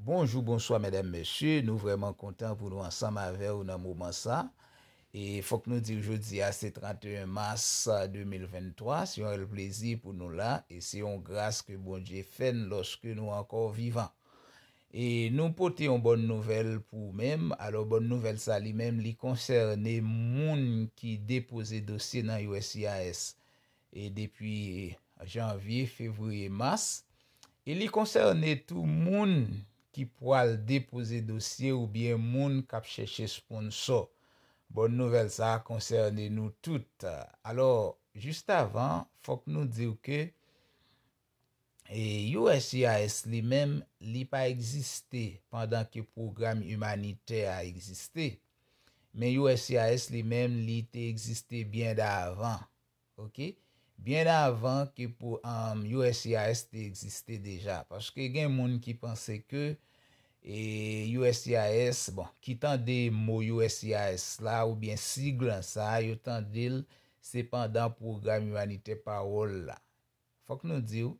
Bonjou bonswa medam mesye nou vreman kontan pou nou ansanm avew nan moman sa e fok nou diw jodia se 31 mas 2023 se yon rèl plezi pou nou la e se yon gras ke bondye fèn loske nou anko vivan e nou pote yon bòn nouvèl pou ou menm alo bòn nouvèl sa li menm li konsène moun ki depoze dosye nan uscis e depi janvye, fevriye, mas, e li konsène tou moun ki pwal depoze dosye oubyen moun k ap chèche sponsò. Bòn nouvèl sa a konsène nou tout. Alò, jistavan, fòk nou di w ke uscis li menm, li pa egziste pandan ke pwogram imanitè a egziste, men uscis li menm li te egziste byen davan. ok byen avan ke pou uscis te egziste deja paske gen moun ki panse ke uscis bon ki tande mo uscis la oubyen sigle an sa yo tandel se pandan pwogram imanitè pawòl la fòk nou diw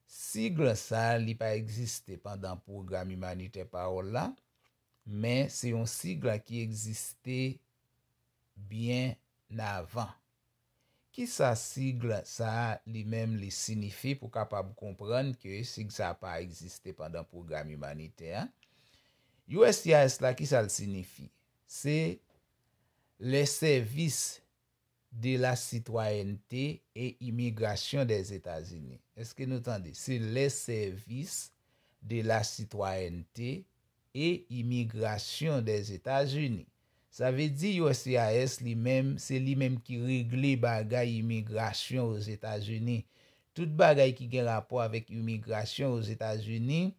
sigle an sa li pa egziste pandan pwogram imanitè pawòl la men se yon sigle ki egziste byen avan. Kisa sigle sa li menm li sinifi pou kapab konprann ke sig sa pa egziste pandan pwogram imanitè an? Uscis la kisa l sinifi? Se Le Service de la Citoyenneté et Immigration des États-Unis. Eske nou tande? Se Le Service de la Citoyenneté e Imigrasyon Dèzetazini. Sa vle di uscis li menm, se li menm ki regle bagay imigrasyon Ozetazini. Tout bagay ki gen rapò avèk imigrasyon Ozetazini,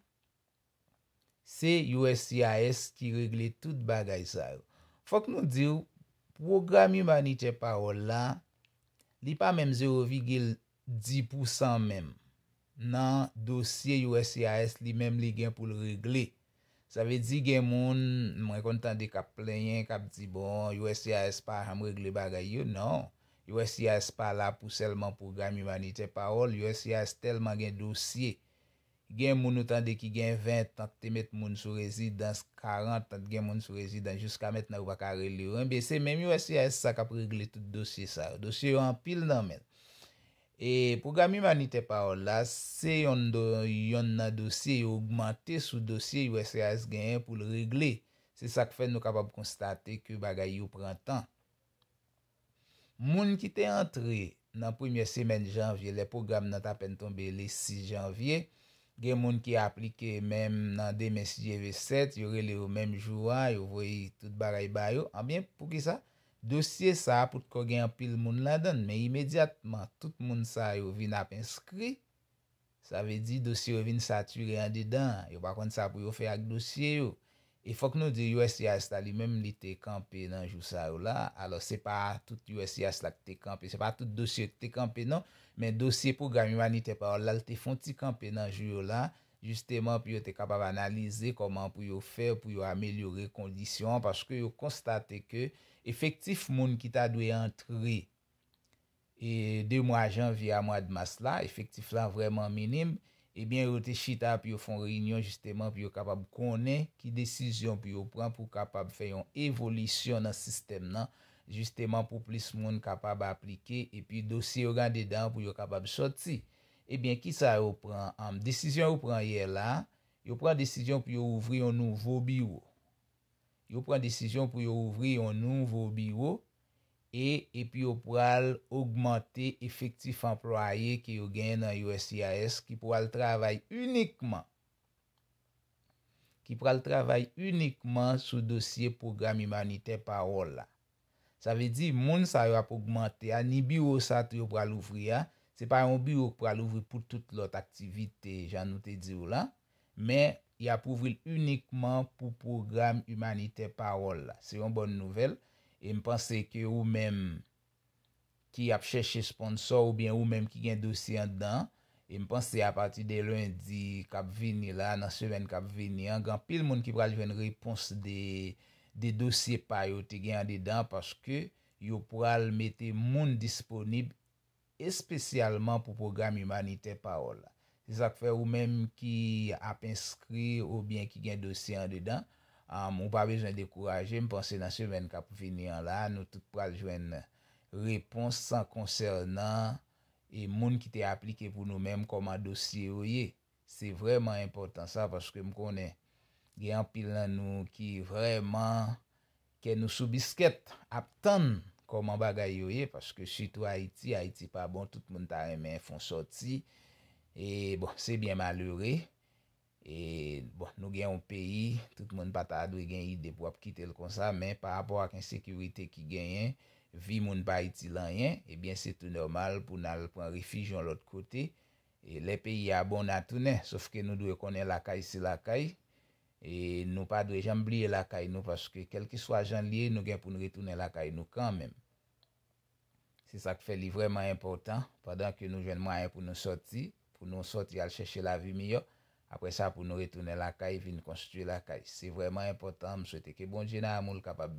se uscis ki regle tout bagay sa yo. Fòk nou di w, pwogram imanitè Pawòl la, li pa menm zewo vigil di pou san menm nan dosye uscis li menm li gen pou l regle. Sa vle di gen moun mwen konn tande k ap plenyen, k ap di bon uscis pa janm regle bagay yo. Non, uscis pa la pou sèlman pwogram imanitè. Pawòl uscis tèlman gen dosye Gen moun ou tande ki gen 20 tan k te met moun sou rezidans, 40 tan t gen moun sou rezidans jiska mentnan yo pa ka rele yo. Enben se menm uscis sa k ap regle tout dosye sa yo. Dosye yo anpil nan men l. E pwogram imanitè pawòl la se yonn do yonn nan dosye yo ogmante sou dosye uscis genyen pou l regle. Se sa k fè nou kapab konstate ke bagay yo pran tan. Moun ki te antre nan premyè semèn janvye lè pwogram nan t apèn tonbe le 6 janvye, gen moun ki aplike menm nan demen si Dye ve 7, yo rele yo menm jou a, yo voye tout bagay ba yo. Anben, poukisa? Dosye sa a poutko gen anpil moun ladan l, men imedyatman tout moun sa yo vin ap enskri, Sa vle di dosye yo vin sature andedan, yo pa konn sa pou yo fè ak dosye yo. E fòk nou di uscis la li menm li te kanpe nan jou sa yo la, alòs se pa tout uscis la ki te kanpe, se pa tout dosye yo ki te kanpe non, men dosye pwogram imanitè pawòl la li te fon ti kanpe nan jou yo la, jisteman pou yo te kapab analize kòman pou yo fè pou yo amelyore kondisyon an paske yo konstate ke efektif moun ki ta dwe antre e de mwa janvye a mwad mas la, efektif la vrèman minim, ebyen yo te chita pou yo fon reyinyon jisteman pou yo kapab konnen ki desizyon pou yo pran pou kapab fè yon evolisyon nan sistèm nan, jisteman pou plis moun kapab aplike epi dosye yo gen andedan an pou yo kapab sòti. Ebyen ki sa yo pran anm desizyon yo pran yè la, yo pran desizyon pou yo ouvri yon nouvo biwo. Yo pran desizyon pou yo ouvri yon nouvo biwo. e epi yo pral ogmante efektif anplwaye ke yo genyen nan uscis ki pral travay inikman ki pral travay inikman sou dosye pwogram imanitè Parole la. Sa vle di, moun sa yo ap ogmante a, ni biwo sa tou yo pral ouvri a, se pa yon biwo ki pral ouvri pou tout lòt aktivite jan nou te di w lan, Men, y ap ouvri l inikman pou pwogram imanitè Pawòl la. Se yon bòn nouvèl, e m panse ke ou menm ki ap chèche sponsò oubyen ou menm ki gen dosye anndan an, e m panse apati de lendi k ap vini la, nan semèn k ap vini an, gen anpil moun ki pral jwenn repons de dosye pa yo te gen andedan, paske yo pral mete moun disponib espesyalman pou pwogram imanitè Pawòl la. Se sa k fè ou menm ki ap enskri oubyen ki gen dosye andedan, ou pa bezwen dekouraje, m panse nan semèn k ap vini an la, nou tout pral jwenn repons konsènan moun ki te aplike pou nou menm, kòman dosye yo ye. Se vrèman enpòtan sa paske m konnen gen anpil nan nou ki vrèman kè nou sou biskèt ap tann kòman bagay yo ye paske sitou Ayiti, Ayiti pa bon tout moun ta renmen fon sòti e bon se byen malere e bon nou gen yon peyi tout moun pa ta dwe gen ide pou ap kite l konsa men pa rapò ak ensekirite ki genyen vi moun pa itil anyen e byen se tou nòmal pou n al pran refij yon lòt kote E lè peyi a bon na tounen. Sof ke nou dwe konnen lakay se lakay. E nou pa dwe janm bliye lakay nou paske kelkeswa jan li ye nou gen poun retounen lakay nou kanmenm. Se sak fè li vreman enpotan pandan ke nou jwenn mwayen pou nou soti, pou nou soti al cheche lavi miyò, apre sa pou nou retounen lakay vin konstwi lakay. Se vreman enpotan, m swete ke Bondye nan amoul kapab.